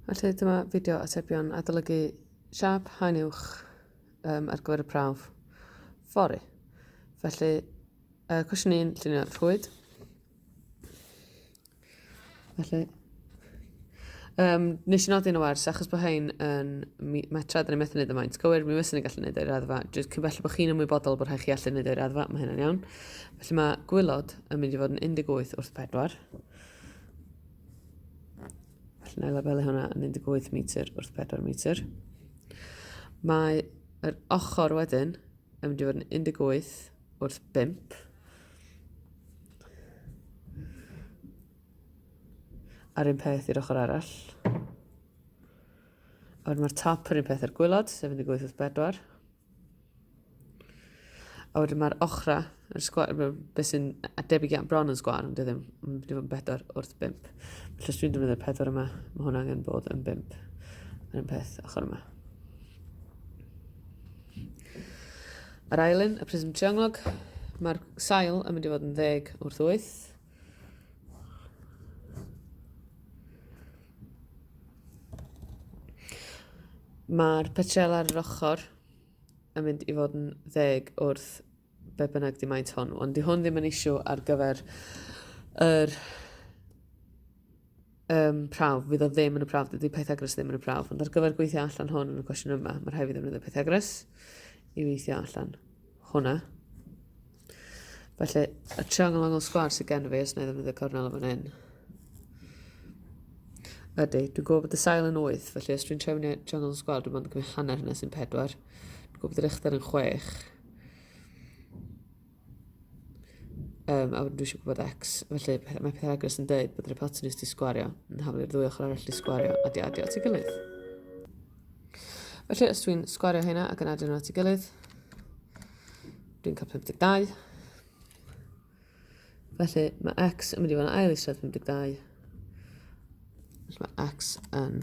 Felly dyma fideo atebion adolygu siap haen uwch um, ar gyfer y prawf fori. Felly, uh, cwestiwn ni'n llunio rhwyd. Felly, um, nes i nodi yn y wers, achos bod hyn yn metra, dyn ni'n methu wneud y maint. Gywir, mi fysyn ni gallu wneud o'i raddfa. Dwi'n cyn belled bod chi'n ymwybodol bod rhaid chi allu wneud o'i raddfa, mae hynny'n iawn. Felly mae gwylod yn mynd i fod yn 18 wrth 4. Felly na i labelu hwnna yn 18 metr wrth 4 metr. Mae yr ochr wedyn yn mynd i fod yn 18 wrth 5. A'r un peth i'r ochr arall. A mae'r top yr un peth ar gwylod, sef 18 wrth 4. A wedyn mae'r ochra, yr sgwar, beth sy'n debyg iawn bron yn sgwar, ond ddim, ddim yn bedwar wrth bimp. Felly os dwi'n defnyddio'r pedwar yma, mae hwn angen bod yn bimp. Yr un peth ochr yma. Yr ail un, y prism triongloc, mae'r sail yn mynd i fod yn ddeg wrth wyth. Mae'r petrel ar yr ochr yn mynd i fod yn ddeg wrth be bynnag di maint hwn, ond di hwn ddim yn isiw ar gyfer yr um, prawf, fydd o ddim yn y prawf, dydy Pythagoras ddim yn y prawf, ond ar gyfer gweithio allan hwn yn y cwestiwn yma, mae rhaid i ddefnyddio Pythagoras i weithio allan hwnna. Felly, y triongl angol sgwar sydd gen fi, os na i ddefnyddio cornel o fan hyn, Ydy, dwi'n gwybod bod y sail yn 8, felly os dwi'n trefnu triongl yn sgwar, dwi'n mynd yn gwneud hanner hynny sy'n 4. Dwi'n gwybod bod yr uchder yn 6. Um, a wedyn dwi eisiau gwybod X. Felly, mae Pythagoras yn dweud bod yr hypotenus di sgwario yn haflu i'r ddwy ochr arall di sgwario a di adio at ei gilydd. Felly, os dwi'n sgwario hynna ac yn adio nhw at ei gilydd, dwi'n cael 52. Felly, mae X yn mynd i fod yn ail eisiau 52. Felly, mae X yn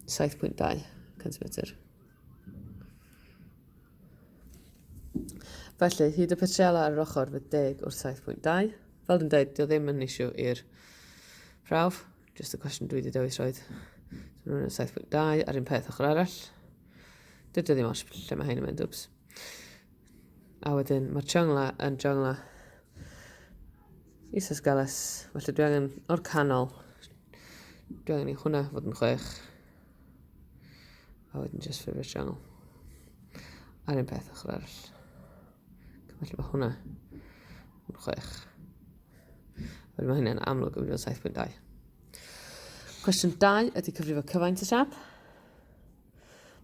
7.2 cm. Felly, hyd y petrela ar yr ochr fy deg wrth 7.2. Fel dwi'n dweud, dio ddim yn eisiau i'r prawf, just y cwestiwn dwi wedi dewis roed. So rwy'n 7.2 ar un peth ochr arall. Dydy ddim oes lle mae hyn yn mynd, wps. A wedyn, mae'r chongla yn chongla isos galas, felly dwi angen o'r canol, dwi angen i hwnna fod yn chwech. A wedyn just favourite channel. A'r un peth ochr arall. Felly mae hwnna yn chwech. Felly mae hynny'n amlwg yn fod 7.2. Cwestiwn 2 ydy cyfrifo cyfaint y siap.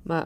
Mae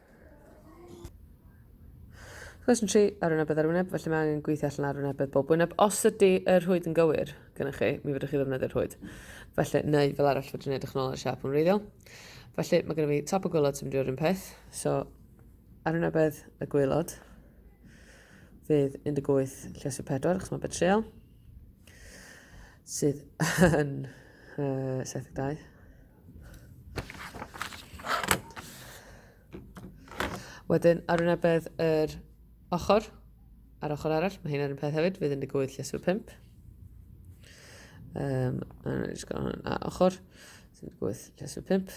Cwestiwn 3, arwynebedd ar wyneb, felly mae angen gweithio allan arwynebedd bob wyneb. Os ydy y rhwyd yn gywir gyda chi, mi fydwch chi ddefnyddio rhwyd. Felly, neu fel arall fydw'n edrych yn ôl ar y siap yn wreiddiol. Felly, mae gennym fi top y gwylod sy'n mynd i fod un peth. So, arwynebedd y gwylod fydd 18 lles y 4, achos mae betrol sydd yn uh, 72. Wedyn, ar wynebedd yr ochr, ar ochr arall, mae hyn ar un peth hefyd, fydd 18 lles fy 5. Um, a jyst gael hwn ar ochr, 18 lles fy 5.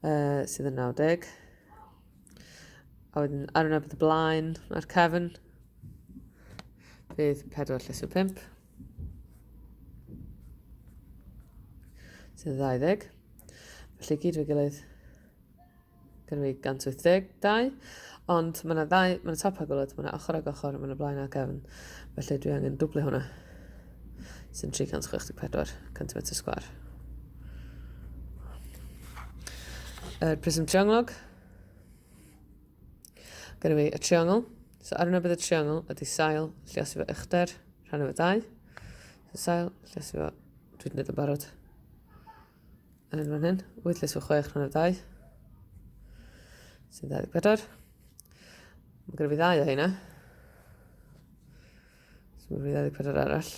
Uh, sydd yn 90. A wedyn, ar wynebedd y blaen, mae'r cefn, fydd 4 lles fy 5. Sydd 20. Felly gyd fe gilydd gyda fi 182, ond mae yna ddau, mae yna top a gwylod, mae yna ochr ag ochr, mae yna blaen a gefn, felly dwi angen dwblu hwnna, sy'n 364 cm sgwar. Yr prism triongloc, Gynnu fi y triongl. So ar yna bydd y triongl ydy sail, lliasu fo uchder, rhan efo dau. So sail, lliasu fo, dwi wedi gwneud yn barod. Yn hyn fan hyn, wyth lliasu fo chwech rhan efo dau. Sy'n 24. Mae gyda fi ddau o hynna. So mae fi 24 arall.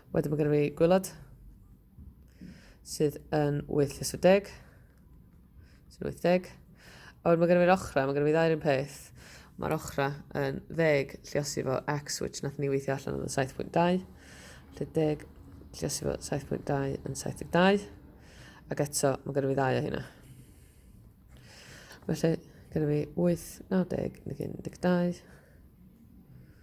Wedyn mae gyda fi gwylod. sydd yn 830, sy'n 80. A wedyn mae gen i fi'r ochra, mae gen i fi ddau'r un peth. Mae'r ochra yn ddeg lliosi fo x, which nath ni weithio allan yn 7.2. Lle deg lliosi fo 7.2 yn 72. Ac eto, mae gen i fi ddau o hynna. Felly, gen i fi 8, 90, 12.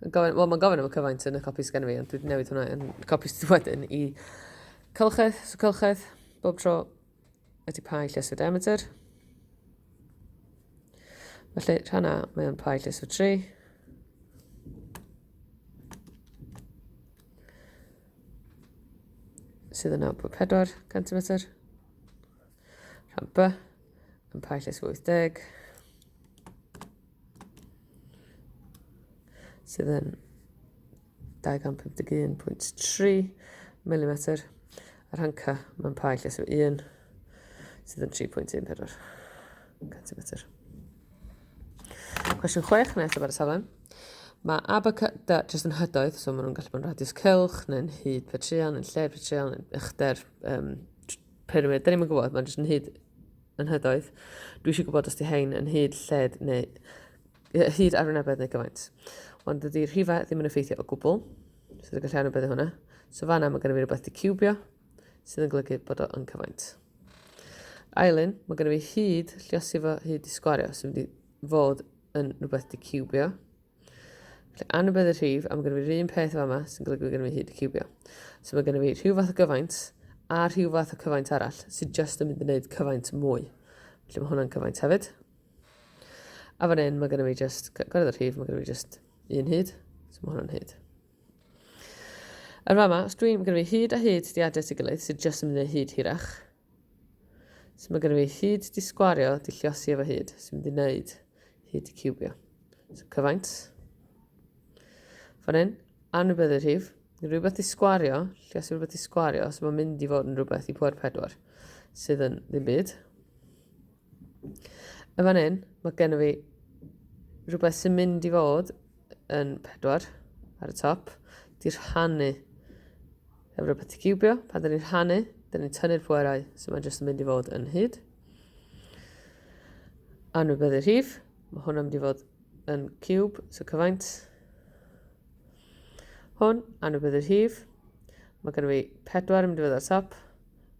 Gofyn, wel, mae'n gofyn am y cyfaint yn y copi sgan fi, ond dwi'n newid hwnna yn copi sydd wedyn i cylchedd, so cylchedd, bob tro ydy pai lles o diameter. Felly, rhan A, mae o'n pai lles o 3. Sydd yn 9.4 cm. Rhan B, yn pa llys 80, sydd yn 251.3 mm, a rhan C, mae'n pa llys 1, sydd yn 3.14 cm. Cwestiwn 6 yn eithaf ar y saflen. Mae A, B, C, D jyst yn hydoedd, so maen nhw'n gallu bod yn radius cylch, neu'n hyd petreon, yn lle petreon, yn uchder, um, Pyramid, da ni'n yn gwybod, mae'n jyst yn hyd yn hydoedd. Dwi eisiau gwybod os di hein yn hyd lled neu hyd ar wynebedd neu gyfaint. Ond dydy'r rhifau ddim yn effeithio o gwbl, sydd yn gallu anwybyddu hwnna. So fanna mae gennym fi rhywbeth di cubio, sydd yn golygu bod o yn cyfaint. Ailyn, mae gennym fi hyd lliosi fo hyd i sgwario, sy'n mynd i fod yn rhywbeth di cubio. Felly, anwybedd y rhif, a mae gen i fi'r un peth fama sy'n golygu bod gen i fi hyd y cubio. So mae gen i fi rhyw fath o gyfaint a rhyw fath o cyfaint arall sydd just yn mynd i wneud cyfaint mwy. Felly mae hwnna'n cyfaint hefyd. A fan hyn mae gen i fi just, gorau y rhif, mae gen i fi just un hyd. So mae hwnna'n hyd. Yn fama, os dwi'n gen i fi hyd a hyd di adres i gilydd sydd just yn mynd i wneud hyd hirach, So mae gennym ni hyd di sgwario, di lliosi efo hyd, sy'n mynd i wneud hyd di cubio. So cyfaint. Fan hyn, anwybyddu rhif, rhywbeth di sgwario, lliosi rhywbeth di sgwario, so mae'n mynd i fod yn rhywbeth i pwer pedwar, sydd yn ddim byd. Yn fan hyn, mae gennym fi rhywbeth sy'n mynd i fod yn pedwar ar y top. Di rhannu efo rhywbeth i cubio. Pan dyn ni'n rhannu, dyn ni'n tynnu'r pwerau, so mae'n jyst yn mynd i fod yn hyd. Anwybyddu rhif, mae hwn yn mynd i fod yn cub, so cyfaint. Hwn, anwybyddu rhif, mae gennym fi pedwar yn mynd i fod ar top.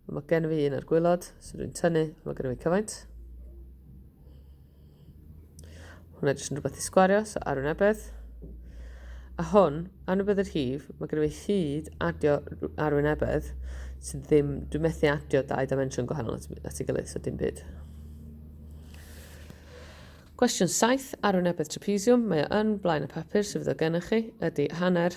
A mae gen fi un ar gwylod, so dwi'n tynnu, a mae gen fi cyfaint. Hwna jyst yn rhywbeth i sgwario, so ar un ebedd. A hwn, ar ebedd yr hif, mae gen fi hyd adio ar un ebedd, sydd ddim, dwi'n methu adio dau dimension gwahanol at, at ei gilydd, so dim byd. Cwestiwn 7 ar un ebedd trapezium, mae o yn blaen y papur sydd o gennych chi, ydy hanner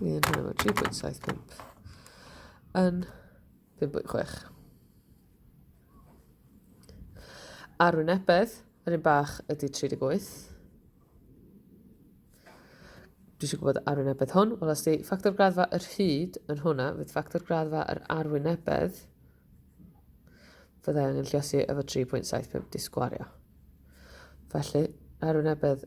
Ie, dyna fo, 3.75 yn 5.6. Arwynebedd, yr un bach ydy 38. Dwi eisiau gwybod arwynebedd hwn. Wel, os di ffactor graddfa yr hyd yn hwnna, fydd ffactor graddfa yr arwynebedd fyddai angen lliosi efo 3.75 disgwario. Felly, arwynebedd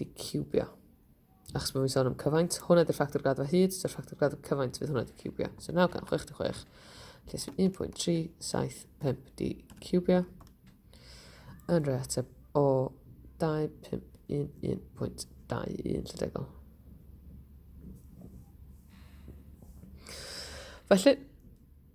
di cubio. Achos bod fi'n sôn am cyfaint, hwnna di'r ffactor graddfa hyd, so'r ffactor graddfa cyfaint fydd hwnna di cubio. So 966, lle sy'n 1.375 di cubio. Yn rhoi ateb o 251.21 lle degol. Felly,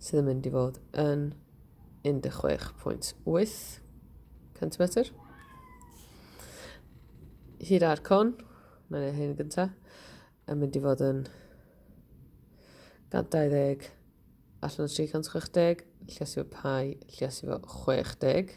sydd yn mynd i fod yn 16.8 centimetr. Hyd ar con, mae'n ei hyn gyntaf, yn mynd i fod yn 120 allan o 360, llias i fo pai, llias i fo 60.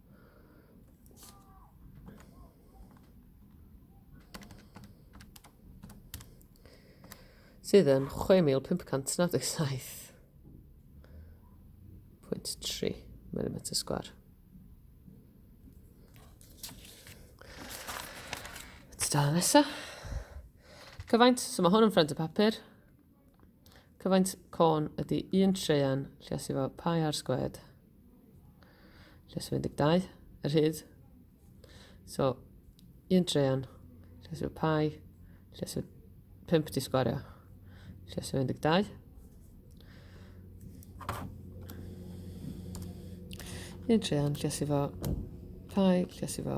sydd yn 6,597.3 mm sgwar. Tudalen nesaf. Cyfaint, so mae hwn yn ffrind y papur. Cyfaint corn ydy un treian lles efo pai ar sgwed. Lles 12, yr hyd. So, un treian lles efo pai, lles efo 5 di sgwario, lles efo 12. Un treian lles efo pai, lles efo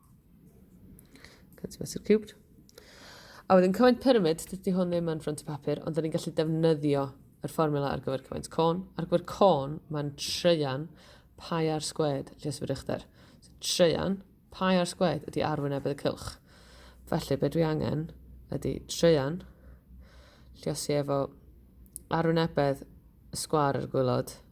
Can't see Mr Cubed. A wedyn cyfaint pyramid, dydy hwn ddim yn ffront y papur, ond da ni'n gallu defnyddio yr fformula ar gyfer cyfaint côn. Ar gyfer côn, mae'n treian pai ar sgwed lles yr uchder. So, treian pai ar sgwed ydy arwynebedd y cylch. Felly, be dwi angen ydy treian lliosi efo arwynebedd y sgwar ar y gwylod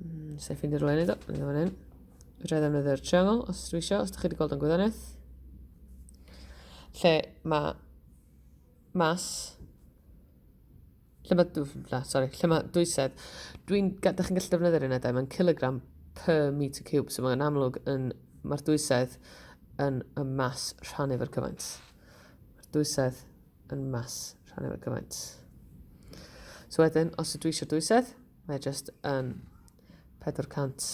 Mm, Sef ffeindio rhywle i wneud o, mynd o'n hyn. Rhaid ddefnyddio'r triangle os dwi eisiau, os ydych chi wedi gweld o'n gwyddoniaeth. Lle mae mas lle mae, na, sorry, lle mae dwysedd, dwi'n, da chi'n gallu defnyddio'r unedau, mae'n kilogram per meter cube, so mae'n amlwg yn, mae'r dwysedd yn y mas rhan efo'r cyfaint. Mae'r dwysedd yn mas rhan efo'r cyfaint. So wedyn, os ydw i eisiau dwysedd, Mae just yn 400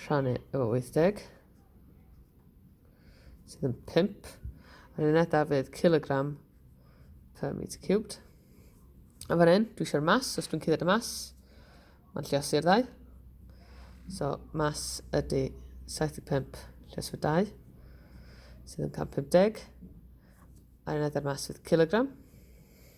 rhannu efo 80 sydd yn 5 a'r un edaf fydd kilogram per meter cubed a fan hyn dwi eisiau'r mas os dwi'n cydyd y mas mae'n lliosi'r ddau so mas ydy 75 lles fy 2 sydd yn 150 a'r un edaf mas fydd kilogram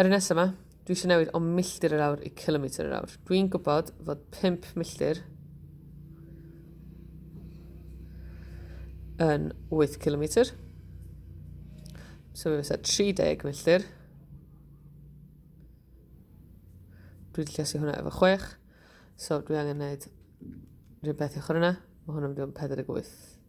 Ar y nesaf yma, dwi eisiau newid o milltir yr awr i kilometr yr awr. Dwi'n gwybod fod 5 milltir yn 8 kilometr. So fe fysa 30 milltir. Dwi wedi llesu hwnna efo 6. So dwi angen gwneud rhywbeth i ochr yna. Mae hwnna'n mynd i fod yn 48.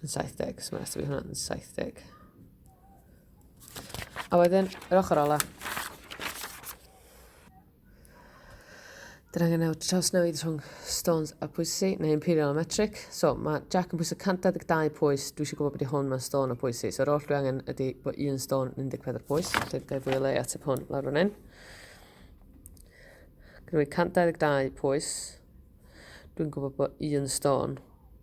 Yn 70, so mae'n rhaid i fi hwnna'n 70. A wedyn, yr ochr ola. Dyna gynnau trawsnewid rhwng stones a pwysi, neu imperial a metric. So, mae Jack yn pwyso 142 pwys, dwi eisiau gwybod beth i hwn mewn stone a pwysi. So, yr oll dwi angen ydy bod un stone 14 pwys, felly dwi fwy o le at y hwn lawr fan hyn. Gynnu 122 pwys, dwi'n gwybod bod un stone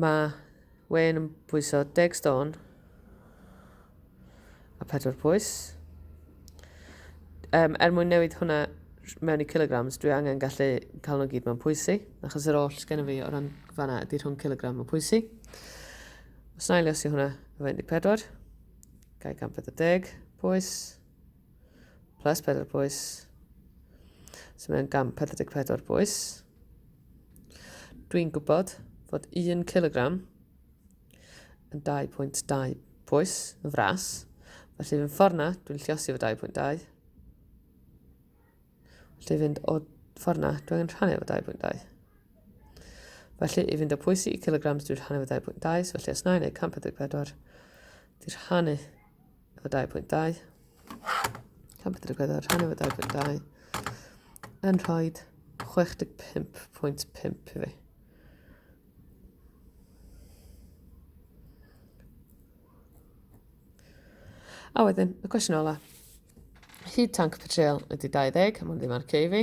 Mae Wayne yn pwyso deg stôn a pedwar pwys. Um, er mwyn newid hwnna mewn i kilograms, dwi angen gallu cael nhw gyd mewn pwysi, achos yr oll sgen fi o ran fanna ydy rhwng kilogram o pwysi. Os na i lesu hwnna, efo 14, gael 140 pwys, plus 4 pwys, sy'n mynd 144 pwys. Dwi'n gwybod fod 1 cilogram yn 2.2 pwys yn fras, felly fy ffordd na, dwi'n lliosi fy 2.2. Felly fynd o ffordd na, dwi'n rhannu fy 2.2. Felly, i fynd o pwysi i kilograms, dwi'n rhannu fy 2.2, so felly os na i wneud 144, dwi'n rhannu efo 2.2. Can pedwar gweddo rhan efo 2.2. Yn rhoi 65.5 i fi. A wedyn, y cwestiwn ola. Hyd tank petrol ydy 20, mae'n ddim ar cei fi.